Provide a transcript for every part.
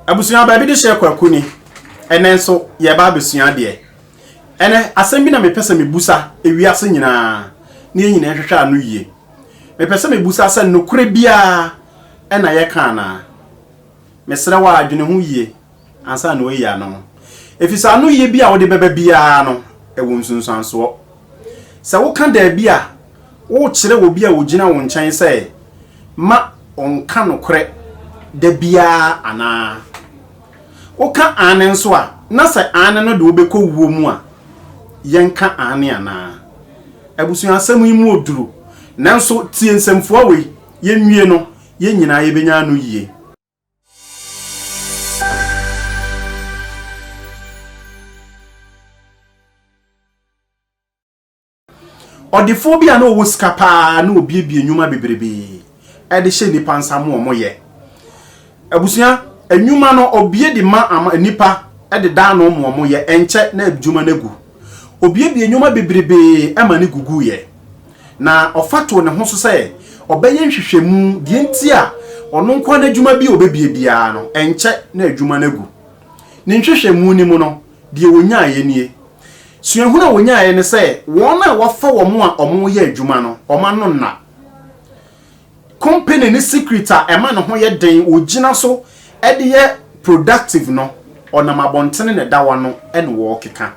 Abusua baabi de hyɛ kwaku ni ɛnɛ nso yɛreba abɛsua adeɛ ɛnɛ asɛm bi na mepɛ sɛ mebusa ewiase nyinaa ne yɛn nyinaa nhwehwɛ ano yie mepɛ sɛ mebusa sɛ nokorɛ biara ɛna yɛka anaa mesrɛ wɔ adwene ho yie ansa na wɔayi ano no ɛfisɛ ano yie bi a wode bɛba biara no ɛwɔ nsunsuansoɔ Sɛ woka dabi a, worekyerɛ obi a ogyina wo nkyɛn sɛ ma ɔnka nokorɛ da biara anaa? Woka aane nso a, na sɛ aane no de wo bɛkɔ wuo mu a, yɛnka aane anaa? Abusua asɛm yi mu oduro, nanso tie nsɛmfua wei, yɛnwie no, yɛn nyinaa yɛbɛnya ano yie. Ɔdefoɔ bi a na ɔwɔ sika paa na ɔbiebie nnwuma bebrebe de hyɛ nnipa nsa ma wɔn yɛ. Abusua, nnwuma no ɔbie de ma ama nnipa de da ano ma wɔn yɛ, ɛnkyɛ na adwuma no agu. Ɔbiebie nnwuma bebrebe ma ne gugu yɛ. na ɔfa too ne ho so sɛ ɔbɛyɛ nhwehwɛmu deɛ nti a ɔno nko ara n'adwuma bi a ɔbɛbie biara no, ɛnkyɛ na adwuma no agu. Ne nhwehwɛmu no mu no, deɛ ɔnyaeɛ nie. Suahunu a ɔnyaeɛ ne sɛ wɔn a wɔafa wɔn a wɔreyɛ adwuma no, wɔn ano nna. Company ne secret a ɛma ne ho yɛ den wogyina so de yɛ productive no, ɔnam abɔntene na ɛda hɔ ano na wɔkeka.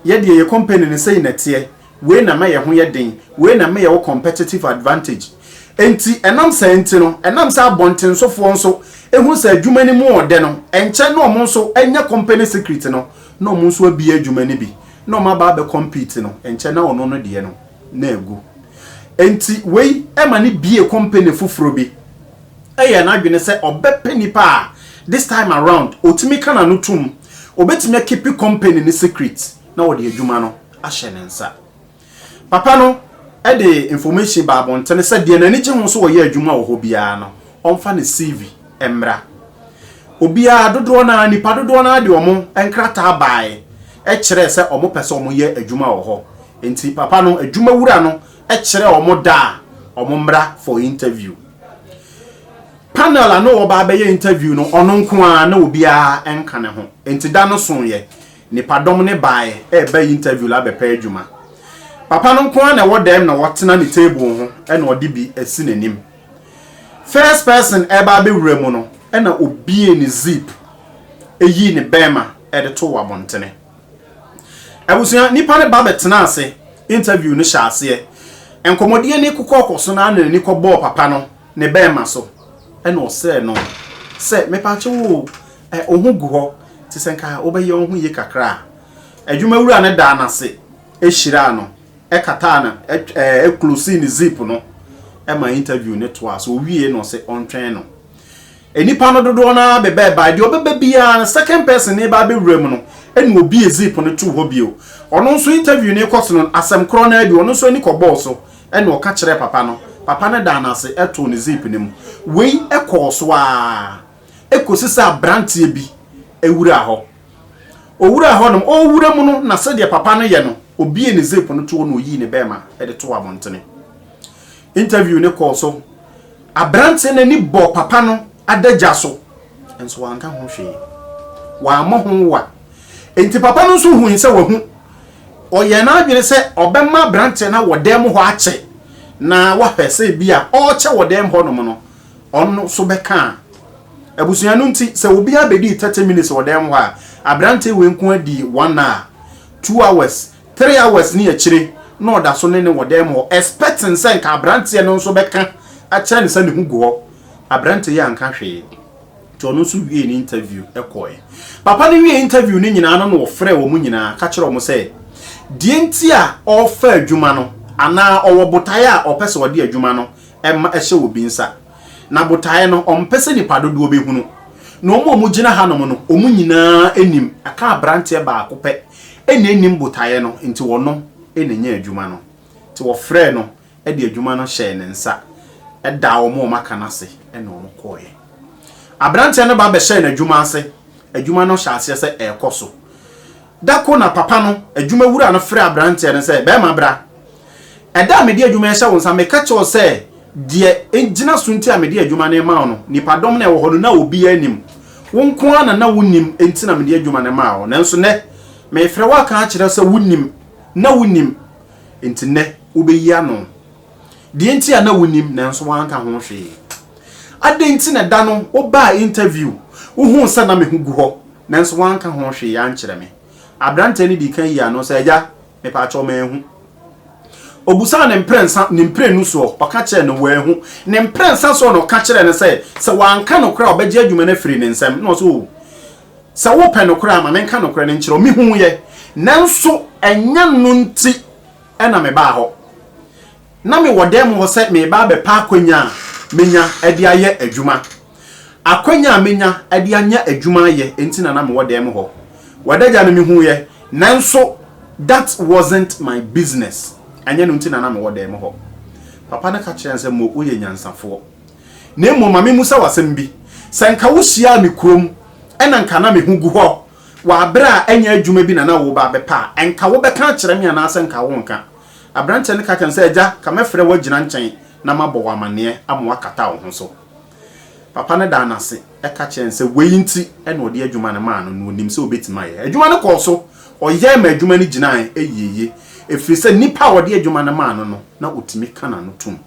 Yɛ deɛ yɛ company no sei na ɛteɛ, wei na ɛma yɛn ho yɛ den, wei na ɛma yɛwɔ competitive advantage. Enti ɛnam saa nti no, ɛnam sɛ abɔntensofoɔ nso hunu sɛ adwuma no mu ɔdɛ no, ɛnkyɛ na wɔn nso anya company secret no na wɔn nso abue adwuma no bi na wɔaba abɛ compete no, ɛnkyɛ na ɔno no deɛ no. na agu. Enti wei ma no bue company foforɔ bi yɛɛ n'adwene sɛ ɔbɛpɛ nnipa a this time around ɔtumi ka n'ano tom, ɔbɛtumi akipi company no secret na ɔde adwuma no ahyɛ ne nsa. Papa no de information baa abɔntene sɛ deɛ n'ani gye ho sɛ ɔyɛ adwuma wɔ hɔ biara no, ɔmfa ne CV mmra. Obiara dodoɔ no ara, nnipa dodoɔ no ara de wɔn nkrataa baae kyerɛɛ sɛ wɔpɛ sɛ wɔyɛ adwuma wɔ hɔ. Enti papa no adwuma wura no kyerɛɛ wɔn da a wɔn mmra for interview. Panel a na wɔba abɛyɛ interview no ɔno nko ara na obiara nka ne ho. Enti da no soeɛ, nnipadɔm no baeɛ reba interview la abɛpɛ adwuma. Papa no nko ara na ɛwɔ dɛm na ɔtena ne table ho na ɔde bi asi n'anim. First person reba abɛwura mu no na obue ne zip yii ne bɛɛma de too abɔntene. Abusua nnipa no ba bɛtenaa ase, interview no hyɛɛ aseɛ. Nkɔmmɔdie no kɔkɔɔ so no ara na n'ani kɔbɔɔ papa no ne bɛɛma so ɛna ɔsrɛɛ no sɛ, Mepaakyɛ wo o, eh, wo ho gu hɔ te sɛ nka wobɛyɛ wo ho yie kakra a. Adwuma wura no daa no ase hyiraa no, kataa no, eh, closee ne zip no ma interview no toaa so. Ɔwiee na ɔse ɔntwɛn no. Nnipa no dodoɔ no ara bebɛɛbae, deɛ ɔbɛba biara no second person no reba abɛwura mu no na ɔbie zip no too hɔ bio. Ɔno nso interview no rekɔ so no, asɛm korɔ no ara bi, ɔno nso ani kɔbɔɔ so na ɔka kyerɛɛ papa no, papa no daa no ase too no zip no mu. Wei kɔɔ so ara kɔsi sɛ aberanteɛ bi wuraa hɔ. Ɔwuraa hɔ nom, ɔrewura mu no na sɛdeɛ papa no yɛ no, ɔbiee ne zip no toɔ na ɔyii ne bɛɛma de too abɔntene. interview no kɔɔ so. Aberante no ani bɔɔ papa no adagya so, nso wanka ho hwee. Wammɔ ho wa. Enti papa no nso hui sɛ wahu. Ɔyɛɛ n'adwene sɛ ɔbɛma aberante no wɔ dan mu hɔ akyɛ na wahwɛ sɛ ebi a ɔrekyɛ wɔ dan mu hɔnom no, ɔno nso bɛka a. Abusua no nti, sɛ obiara bɛdii 30 minutes wɔ dan mu hɔ a, aberante wei nko ara dii one hour, two hours, Three hours ne akyire na ɔda so ne no wɔ dan mu hɔ expecting sɛ nka abranteɛ no nso bɛka akyerɛ no sɛ ne ho gu hɔ. Abranteɛ yi anka hwee nti ɔno nso wiee ne interview kɔɔɛ. Papa no wiee interview no nyinaa no na ɔfrɛɛ wɔn nyinaa ka kyerɛɛ wɔn sɛ deɛ nti a ɔrefa adwuma no anaa ɔwɔ botaeɛ a ɔpɛ sɛ ɔde adwuma no ma ɛhyɛ obi nsa. Na botaeɛ no ɔmpɛ sɛ nipa dodoɔ bɛhunu. Na wɔn a wɔgyina hanom no wɔn nyinaa nim ɛka abranteɛ baako pɛ. Nna ennim botaeɛ no, nti ɔno na nyaa adwuma no. Nti wɔfrɛɛ no de adwuma no hyɛɛ ne nsa, daa wɔn a wɔaka no ase na wɔkɔeɛ. Aberanteɛ no ba bɛhyɛɛ n'adwuma ase, adwuma no hyɛɛ aseɛ sɛ ɛrekɔ so. Da koro na papa no, adwumawura no frɛɛ aberanteɛ no sɛ, Barima bra, Ɛda a mede adwuma rehyɛ wo nsa, meka kyerɛɛ wo sɛ deɛ egyina so nti a mede adwuma no rema wo no, nnipadɔm no a ɛwɔ hɔ no, na obiara nnim. Wo nko ara na na wonim, enti na mede adwuma no maa wo. Nanso nnɛ, merefrɛ wo aka akyerɛ wo sɛ wonim, na wonim, enti nnɛ wobɛyi ano deɛ nti a na wonim nanso woanka ho hwee. Adɛn nti na da no wobaa interview, wohuu sɛ na me ho gu hɔ, nanso woanka ho hwee ankyerɛ me? Aberanteɛ no dii kan yii ano sɛ, Agya, Mepaakyɛw manhu. Obusaa ne mprɛnsa, ne mprenu soɔ, ɔka kyerɛɛ no, wanhu. Ne mprɛnsa soɔ na ɔka kyerɛɛ no sɛ, sɛ wanka nokorɛ a ɔbɛgye adwuma no afiri ne nsam. Na ɔse, oh, sɛ wopɛ nokorɛ a, ma menka nokorɛ no nkyerɛ wo. Mehuuiɛ, nanso ɛnyɛ no nti na mebaa hɔ. Ná mewɔ dan mu hɔ sɛ mereba abɛpa akwannya a menya de ayɛ adwuma. Akwannya a menya de anya adwuma ayɛ nti na na mewɔ dan mu hɔ. W'adagya no mihuiɛ, nanso that wasn't my business. Ɛnyɛ no nti na na mewɔ dan mu hɔ. Papa no ka kyerɛɛ no sɛ, Mo, woyɛ nyansafoɔ. Na mmom ma memmisa wo asɛm bi. Sɛ anka wohyiaa me kurom na anka na me ho gu hɔ wɔ berɛ a ɛnyɛ adwuma bi na na woreba abɛpa a, anka wobɛka akyerɛ me anaasɛ anka worenka? Aberanteɛ no ka kyerɛɛ no sɛ, Agya, ka mɛfrɛ wo agyina nkyɛn na mabɔ wo amanneɛ ama woakata wo ho so. Papa no daa no ase ka kyerɛɛ no sɛ wei nti na ɔde adwuma no maa no, na ɔnim sɛ ɔbɛtumi ayɛ. Adwuma no kɔɔ so, ɔyɛe ma adwuma no gyinaeɛ yieyie, ɛfiri sɛ nipa a ɔde adwuma no maa no no, na ɔtumi ka n'ano tom.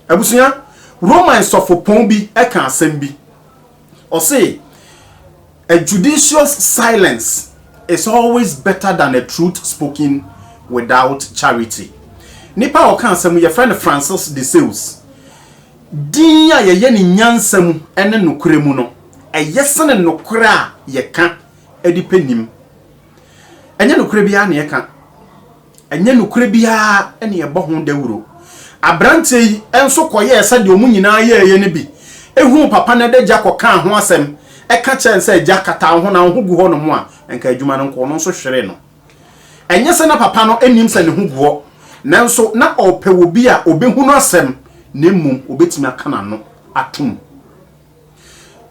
Abusua, Roman sɔfopɔn bi ka asɛm bi. Ɔse, A judicious silence is always better than a truth spoken without charity. Nipa a ɔka asɛm yi, yɛfrɛ no Francis de Sales. Din a yɛyɛ no nyansa mu ne nokorɛ mu no, ɛyɛ sene nokorɛ a yɛka de pɛ nim. Ɛnyɛ nokorɛ biara na yɛka. Ɛnyɛ nokorɛ biara na yɛbɔ ho dawuro. Aberanteɛ yi nso kɔyɛɛ sɛdeɛ wɔn nyinaa yɛeɛ no bi, hunuu papa no adagya kɔkaa ho asɛm ka kyerɛɛ no sɛ, Agya, kata wo ho na wo ho gu hɔnom a, anka adwuma no nko. Ɔno nso hweree no. Ɛnyɛ sɛ na papa no nnim sɛ ne ho gu hɔ, nanso na ɔrepɛ obi a ɔbɛhunu asɛm na mmom ɔbɛtumi aka n'ano atom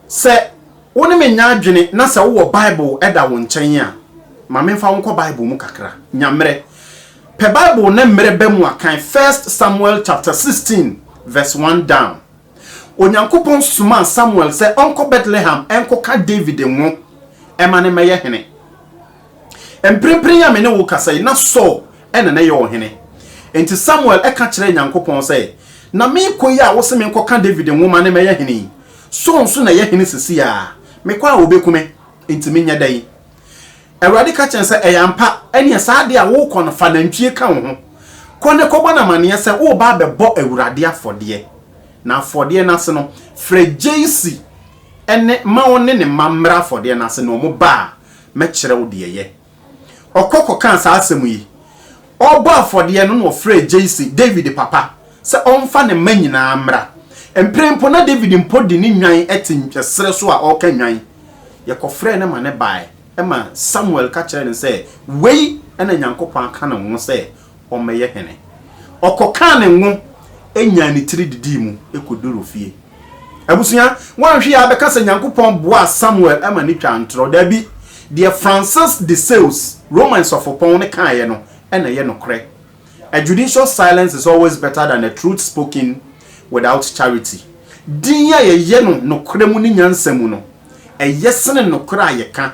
Sɛ wo ne me nyɛ adwene na sɛ wowɔ Bible da wo nkyɛn a, ma memfa wo nkɔ Bible mu kakra. Nya mmerɛ. Pɛ Bible na mmerɛ ba mu a, kan First Samuel chapter sixteen verse one down. Onyankopɔn somaa Samuel sɛ ɔnkɔ Bethlehem nkɔka David ngo ma no mmɛyɛ hene. Mprempren a me ne wo kasa yi, na Saul na na ɛyɛ ɔhene. Enti Samuel ka kyerɛɛ Nyankopɔn sɛ, Na merekɔ yi a wose menkɔka Dawid nwoma ne mɛyɛ hene yi, Saul nso na ɛyɛ hene seesei ara. Mekɔ a wɔbeku me, enti menyɛ dɛn? Awurade ka kyerɛɛ no sɛ, Ɛyɛ ampa. Ɛnneɛ saa ade a worekɔ no, fa nantwie ka wo ho. Kɔ na kɔbɔ no amanneɛ sɛ woreba abɛbɔ Awurade afɔdeɛ. Na afɔdeɛ no ase no, frɛ Jesse ne ma ɔne ne mma mmra afɔdeɛ no ase. Na wɔbaa. mɛkyerɛ wo deɛ yɛ. Ɔkɔ kɔkaa saa asɛm yi. Ɔrebɔ afɔdeɛ no na ɔfrɛɛ Jesse, David papa, sɛ ɔmfa ne mma nyinaa mmra. Mprɛn mpo na David mpo de ne nnwan te serɛ so a ɔreka nnwan. Yɛkɔfrɛɛ no ma no baeɛ ma Samuel ka kyerɛɛ no sɛ, Wei na Nyankopɔn aka ne ho sɛ ɔmmɛyɛ hene. Ɔkɔkaa ne ngo nyaa ne tiri didii mu kɔduru ofie. Abusua, woanhwɛ yɛ a bɛka sɛ Nyankopɔn boaa Samuel ma ne twaa ntorɔ? Daabi. Deɛ Francis de Sales, Roman sɔfopɔn no kaeɛ no na ɛyɛ nokorɛ, A judicious silence is always better than a truth spoken without charity. Dinn a yɛyɛ no nokorɛ mu ne nyansa mu no, ɛyɛ sene nokorɛ a yɛka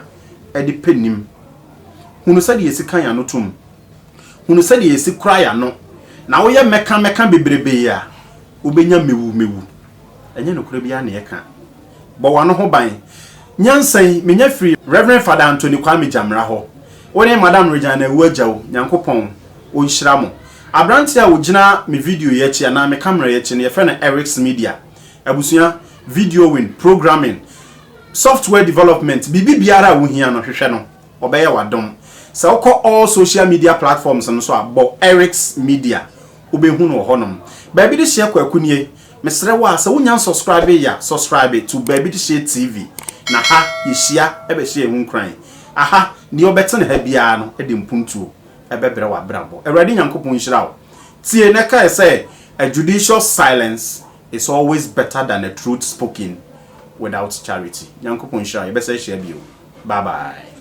de pɛ nim. Hunu sɛdeɛ yɛsi ka yɛn ano tom. Hunu sɛdeɛ yɛsi kora yɛn ano, na woyɛ mmɛka mɛka bebrebe yi a, wobɛnya mewu mewu. Ɛnyɛ nokorɛ biara na yɛka. Bɔ w'ano ho ban. Nyansa yi, menya firi Rev. Fada Anthony Kwame Gyamera hɔ. Wo ne Madam Regina Awu Agya o, Nyankopɔn ɔnhyira mo. Aberanteɛ a ɔgyina me video yi akyi anaa me camera yi akyi no, yɛfrɛ no Eric's Media. Abusua, videoing, programming, software development, biribi biara a wohia no, hwehwɛ no. Wɔbɛyɛ wo adom. Sɛ wokɔ all social media platforms no so a, bɔ Eric's Media. Wobɛhu no wɔ hɔnom. Baabi de hyeɛ Kwaku nie. Mesrɛ wo a, sɛ wonnya nsubscribe yɛ a, subscribe to Baabi de hyeɛ TV. Na ha, yɛhyia bɛhyɛ yɛn ho nkuran. Aha, deɛ ɔbɛte ne ha biara no de mpuntuo bɛbrɛ w'abrabɔ. Awurade Nyankopɔn nhyira wo. Tie na kae sɛ, A judicious silence is always better than a truth spoken without charity. Nyankopɔn nhyira wo. Yɛbɛsan ahyia bio. Bye bye.